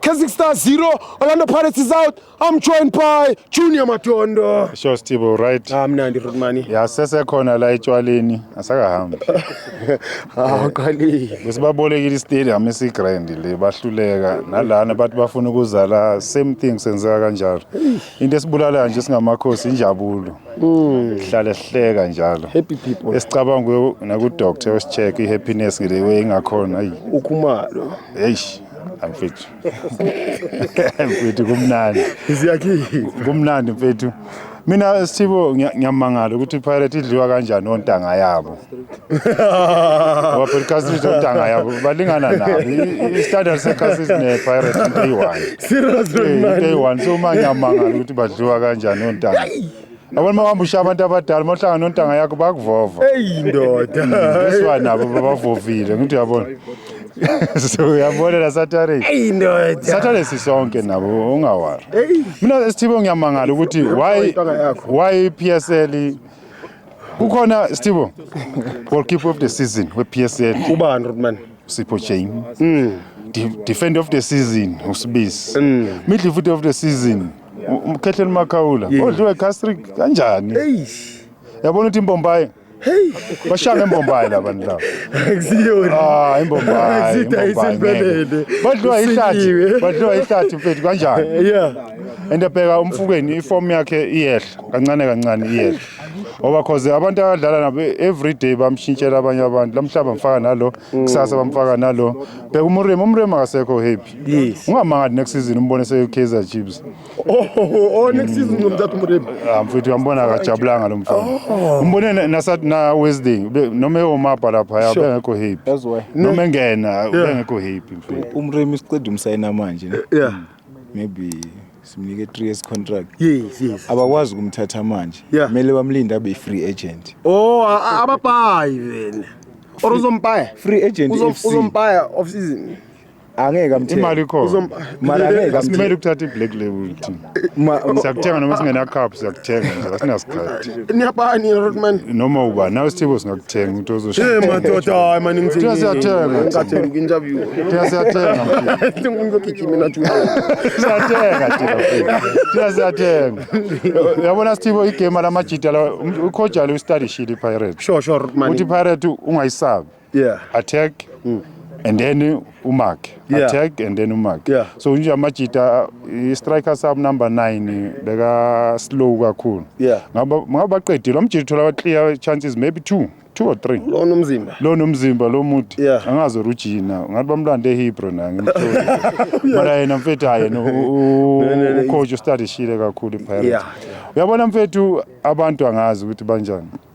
Keswick Stars 0, Orlando Pirates is out. I'm joined by Junior Matondo. Sure Steve, right? Ah mnandi Rudmani. Ya sesekhona la etshwaleni, asakahambi. Ah uqalile. Besibabolekile istadium esi grand le bahluleka nalana bathi bafuna ukuzala same thing senzeka kanjalo. Into esibulalayo nje singamakhosi injabulo. Mm. Hlale sihleka njalo. Happy people. Esicabanga naku doctor osicheck i happiness ngile we ingakhona. Ukhumalo. Eish. mfethu mfethu kumnandi ziyakhithi kumnandi mfethu mina sithibo ngiyamangala ukuthi ipirate idliwa kanjani ontanga yabo ngoba phela icastrit ontanga yabo balingana nabo istandard secastrit nepirate into eyi-one into eyi-one so uma ngiyamangala ukuthi badliwa kanjani ontanga Yabona uma uhamba ushiya abantu abadala uma uhlangana nontanga yakho bakuvova. Eyi ndoda. Besiwa nabo babavovile ngithi uyabona. So uyabona la Saturday. Eyi ndoda. Saturday sisonke nabo ungawari. Mina Sthibo ngiyamangala ukuthi why why PSL kukhona Sthibo goalkeeper of the season we PSL Ubani Rodman? Sipho Chain. Defender of the season uSibisi. Midfielder of the season umkhehleni makhawula odliwa igastric kanjani yabona ukuthi imbombayi Hey, bashanga imbombayi laba ndaba. Akusiyona. Ah, imbombayi. Akusiyona impelele. Badliwa ihlathi. Badliwa ihlathi mfethu kanjani? Yeah. Ende bheka umfukeni iform yakhe iyehla kancane kancane iyehla. Ngoba cause abantu abadlala nabo every day bamshintshela abanye abantu. Lamhlaba mfaka nalo, mm. kusasa bamfaka nalo. Bheka umurima, umurima akasekho happy. Yes. Ungamangathi next season umbone se Kaizer Chiefs. Oh, oh, oh next season ngomthatha umremi. Ah mfethu uyambona akajabulanga lo mfana. Oh. Umbone na na Wednesday noma eyomabha lapha ya bengekho happy. That's why. Noma engena bengekho happy mfethu. Umremi siqeda umsayina manje ne. Yeah. Hmm. Maybe simnike 3 years contract yes yes abakwazi ukumthatha manje kumele bamlinde abe free agent oh ababayi wena or uzompaya free agent uzompaya off season angeke amthenge imali ikhona mali angeke asimele ukuthatha i-black label thina siyakuthenga noma singenacup siyakuthenga nje asinasikhathi niyabani rotman noma uba nawe sithibo singakuthenga ukuthi ozoshiya madoda hayi mani ngithina siyathenga ngathenga interview thina siyathenga mfethu ngizogijima nathi siyathenga thina thina siyathenga yabona sithibo igame lamajita la ukhojalo ustudy shili pirate sure sure rotman uthi pirate ungayisabi yeah. attack mm. and then umark yeah. attack and then umark yeah. so nje amajita i-striker sub number 9 beka slow kakhulu yeah. ngaba ngaba baqedile amjita uthola clear chances maybe two two or three lo nomzimba lo nomzimba lo muthi yeah. angazi urujina ngathi bamlande ehebrew na ngimthole mara yena mfethu hayi yena ucoach ustadishile kakhulu ipirates uyabona mfethu abantu angazi ukuthi banjani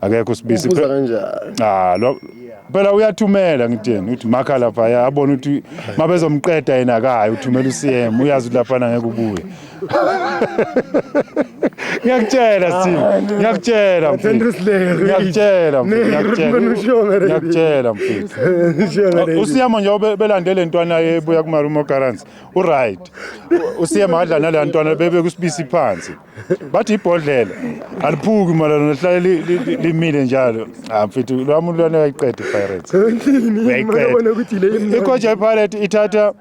akekho usibisi Ubuza kanjani? ah lo phela uyathumela ngitheni uthi makha lapha ya abona ukuthi mabezomqeda yena akayi uthumela uCM uyazi ukuthi lapha ngeke ubuye ngiyakutshela Steve ngiyakutshela mfethu Sandra Slayer. ngiyakutshela mfethu Nehru, ngiyakutshela ngibona ushonga leli. ngiyakutshela mfethu Oh, usiyama nje obe- belande le ntwana ebuya kumarumo currency uright usiyama adla naleya ntwana bebe kusibisi phansi bathi ibhodlela aliphuki mara lihlale li- li- li- limile njalo Ah, mfethu lwa muntu lwana uyayiqeda ipirates Uyabona ukuthi le imnandi. ikoja ipirate ithatha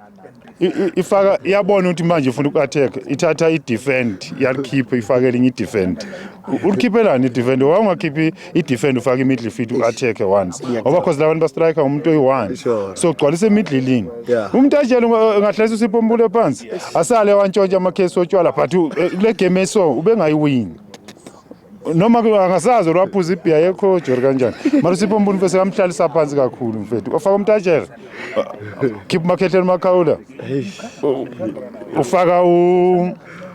i- i- ifaka iyabona ukuthi manje ifuna uku-attack ithatha i-defend yalikhiphe ifake elinye i-defend ulikhiphelani i-defend wawungakhiphi idefend ufake imiddle feet u-attack once ngoba cause labantu bastrike umuntu oyi-one so gcwalisa emidlilini umuntu atshele ngahlesa usipompule phansi asale wantshontsha amakhesi otshwala but eh, kule game eso ubengayiwini noma angasazi or waphuza ibhiya yekho jori kanjani mara usipho mbuni mfethu sekamhlalisa phansi kakhulu mfethu ofaka umtajere khipha umakhehleni umakhawula ufaka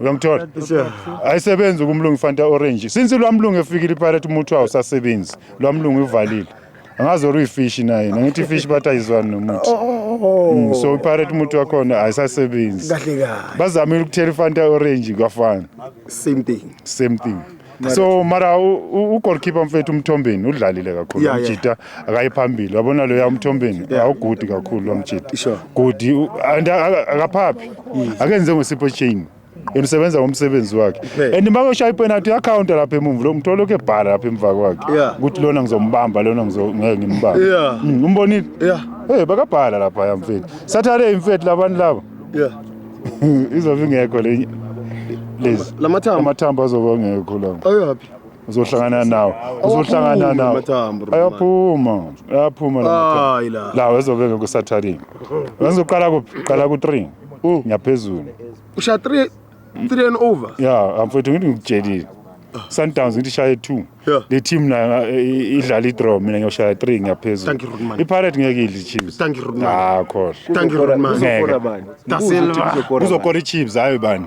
uyangithola ayisebenzi kumlungu ifanta orange since lwamlungu efikile ipirate umuthi wawo usasebenzi lwamlungu ivalile angazi or uyifishi naye nangithi ifishi bathi ayizwani nomuthi oh, oh, oh, mm, so ipirate umuthi wakhona ayisasebenzi bazamile ukuthela ifanta orange kwafana same thing same thing so mara ugolkipa mfethu umthombeni udlalile kakhulu yeah, amjita yeah. akayi phambili wabona loya umthombeni yeah. awugudi kakhulu lomjita sure. gudi and akaphaphi mm. akenze ngosipho chain yena usebenza ngomsebenzi wakhe and uma koshaya ipenalty uyakhawunta lapha emumva lo mthola lokhu ebhala lapha emva kwakhe ukuthi lona ngizombamba lona ngeke ngimbambe mm, umbonile hey bakabhala lapha yamfethu sathale imfethu labantu laba yeah izobe ingekho le lezi lamathambo amathambo azobe engekho la ayaphi uzohlangana nawo uzohlangana nawo ayaphuma ayaphuma hayi la la wezobe ngeke kusatharini wenza uqala kuphi qala ku 3 ngiyaphezulu usha 3 3 and over yeah mfethu ngithi ngikutshelile Sundowns ngithi shaye 2 Yeah. le team nayo eh, i- idlala i-draw mina ngiyoshaya 3 Thank you, ngiyaphezulu Rudman. i-pirate ngeke idle i-chiefs Thank you, Rudman. ah khohlwa thank you Uzokora- Rudman uzokora Ngeke. bani? Da Ubuze ukuthi Silva. uzokora bani? uzokora i-chiefs hayi bani